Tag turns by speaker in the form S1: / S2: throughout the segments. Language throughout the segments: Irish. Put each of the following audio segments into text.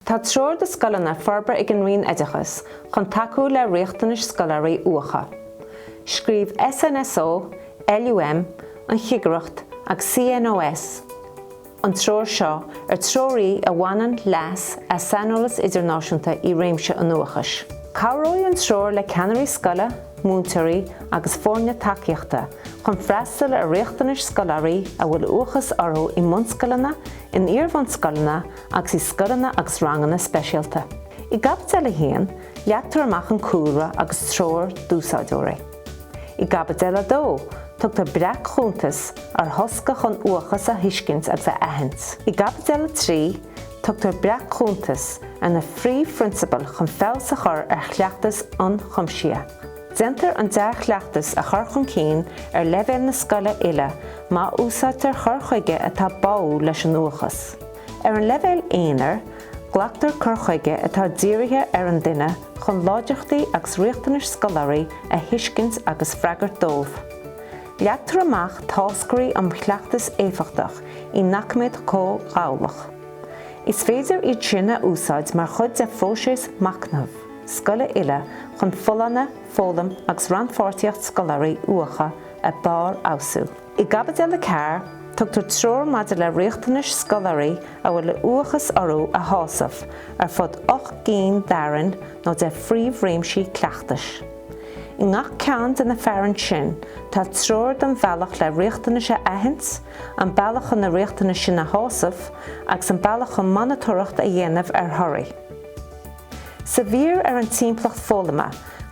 S1: Tá treoir do scoileanna forbartha ag an Roinn Oideachais chun tacú le riachtanais scoláirí uathacha. Scríobh SNSO, LUM, an Chigireacht agus CNOS an treoir seo, ar treoir í a bhaineann leas as saineolas idirnáisiúnta i réimse an uathachais. Cabhróidh an treoir le ceannairí scoile, múinteoirí agus foirne tacaíochta chun freastal ar riachtanais scoláirí a bhfuil uathachas orthu i mbunscoileanna, in iarbhunscoileanna agus i scoileanna agus ranganna speisialta. I gCaibidil 1, leagtar amach an cúlra agus treoir d'úsáideoirí. I gCaibidil 2, tugtar breac-chuntas ar thosca chun uathachas a thuiscint agus a aithint. I gCaibidil 3, tugtar breac-chuntas ar na phríomhphrionsabail chun feabhas a chur ar chleachtas ionchuimsitheach. Déantar an dea-chleachtas a chur chun cinn ar leibhéal na scoile uile má úsáidtear cur chuige atá báúil leis an uathachas. Ar an leibhéal aonair, glactar cur chuige atá dírithe ar an duine chun láidreachtaí agus riachtanais scoláirí a thuiscint agus freagairt dóibh. Leagtar amach táscairí um chleachtas éifeachtach i ndoiciméad comhghabhálach. Is féidir iad sin a úsáid mar chuid de phróiseas machnaimh. scoile uile chun folláine, foghlaim agus rannpháirtíocht scoláirí uathacha a bharrfheabhsú. I gCaibidil 4, tugtar treoir maidir le riachtanais scoláirí a bhfuil uathachas orthu a shásamh, ar fud ocht gcinn d'fhearainn nó de phríomhréimsí cleachtais. I ngach ceann de na fearainn sin, tá treoir don bhealach le riachtanais a aithint, an bealach chun na riachtanais sin a shásamh, agus an bealach chun monatóireacht a dhéanamh ar thorthaí. Sa mhír ar an timpeallacht foghlama,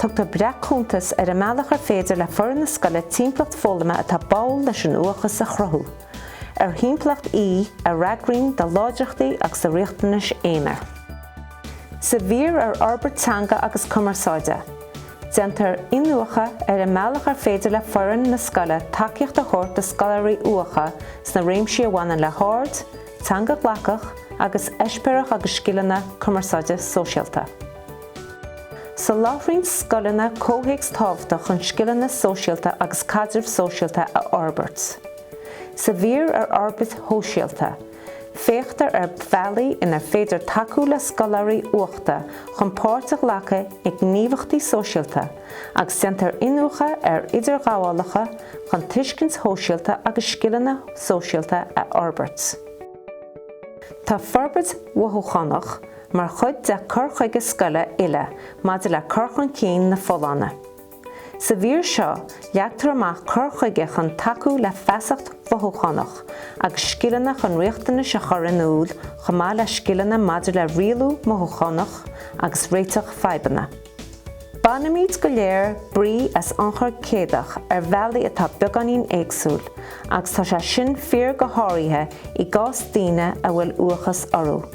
S1: tugtar breac-chuntas ar an mbealach ar féidir le foireann na scoile timpeallacht foghlama atá báúil leis an uathachas a chruthú, ar thimpeallacht í a fhreagraíonn do láidreachtaí agus do riachtanais aonair. Sa mhír ar fhorbairt teanga agus cumarsáide, déantar iniúchadh ar an mbealach ar féidir le foireann na scoile tacaíocht a thabhairt do scoláirí uathacha sna réimsí a bhaineann le haird, Teanga ghlacach agus eispéireach agus scileanna cumarsáide sóisialta. Soláthraíonn scoileanna comhthéacs tábhachtach chun scileanna sóisialta agus caidreamh sóisialta a fhorbairt. Sa mhír ar fhorbairt shóisialta, féachtar ar bhealaí inar féidir tacú le scoláirí uathacha chun páirt a ghlacadh i ngníomhaíochtaí sóisialta, agus déantar iniúchadh ar idirghabhálacha chun tuiscint shóisialta agus scileanna sóisialta a fhorbairt. Tá forbairt mhothúchánach mar chuid de cur chuige scoile uile maidir le cur chun cinn na folláine. Sa mhír seo, leagtar amach cur chuige chun tacú le feasacht mhothúchánach agus scileanna chun riachtanais a chur in iúl chomh maith le scileanna maidir le rialú mothúchánach agus réiteach fadhbanna. Bainimid go léir brí as ionchur céadach ar bhealaí atá beagáinín éagsúil, agus tá sé sin fíor go háirithe i gcás daoine a bhfuil uathachas orthu.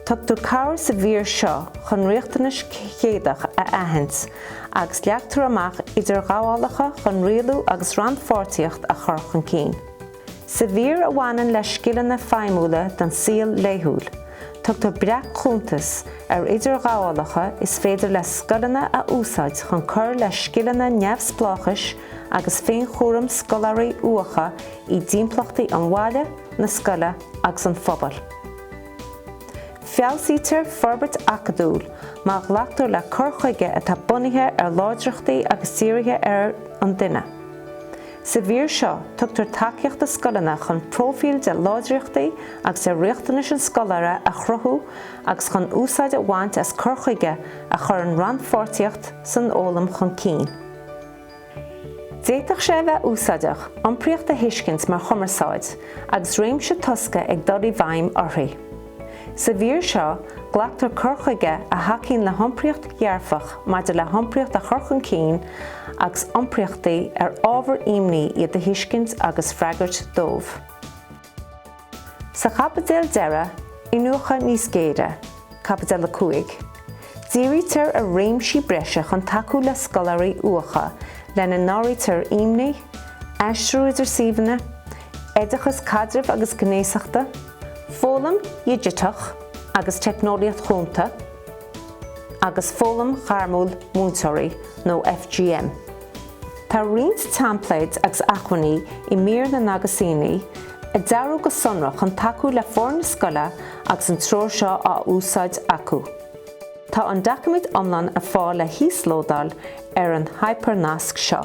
S1: Tugtar cabhair sa mhír seo chun riachtanais chéadach a aithint, agus leagtar amach idirghabhálacha chun rialú agus rannpháirtíocht a chur chun cinn. Sa mhír a bhaineann le scileanna feidhmiúla don saol laethúil, tugtar breac-chuntas ar idirghabhálacha is féidir le scoileanna a úsáid chun cur le scileanna neamhspleáchais agus féinchúraim scoláirí uathacha i dtimpeallachtaí an bhaile, na scoile agus an phobail. Feabhsaítear forbairt acadúil má ghlactar le cur chuige atá bunaithe ar láidreachtaí agus dírithe ar an duine. Sa mhír seo, tugtar tacaíocht do scoileanna chun próifíl de láidreachtaí agus de riachtanais an scoláire a chruthú agus chun úsáid a bhaint as cur chuige a chuireann rannpháirtíocht san fhoghlaim chun cinn. D'fhéadfadh sé a bheith úsáideach, iompraíocht a thuiscint mar chumarsáid, agus réimse tosca ag dul i bhfeidhm uirthi. Sa mhír seo, glactar cur chuige a thacaíonn le hiompraíocht dhearfach maidir le hiompraíocht a chur chun cinn agus iompraíochtaí ar ábhar imní iad a thuiscint agus freagairt dóibh. Sa chaibidil deireadh, Iniúchadh níos géire, Caibidil 5. Dírítear ar réimsí breise chun tacú le scoláirí uathacha lena n-áirítear imní, aistriú idir suíomhanna, oideachas caidrimh agus gnéasachta, foghlaim dhigiteach agus teicneolaíocht chúnta, agus foghlaim ghairmiúil múinteoirí nó FGM. Tá roinnt teimpléid agus acmhainní i mír na n-aguisíní, a dearadh go sonrach chun tacú le foirne scoile agus an treoir seo á úsáid acu. Tá an doiciméad iomlán ar fáil le híoslódáil ar an hipearnasc seo.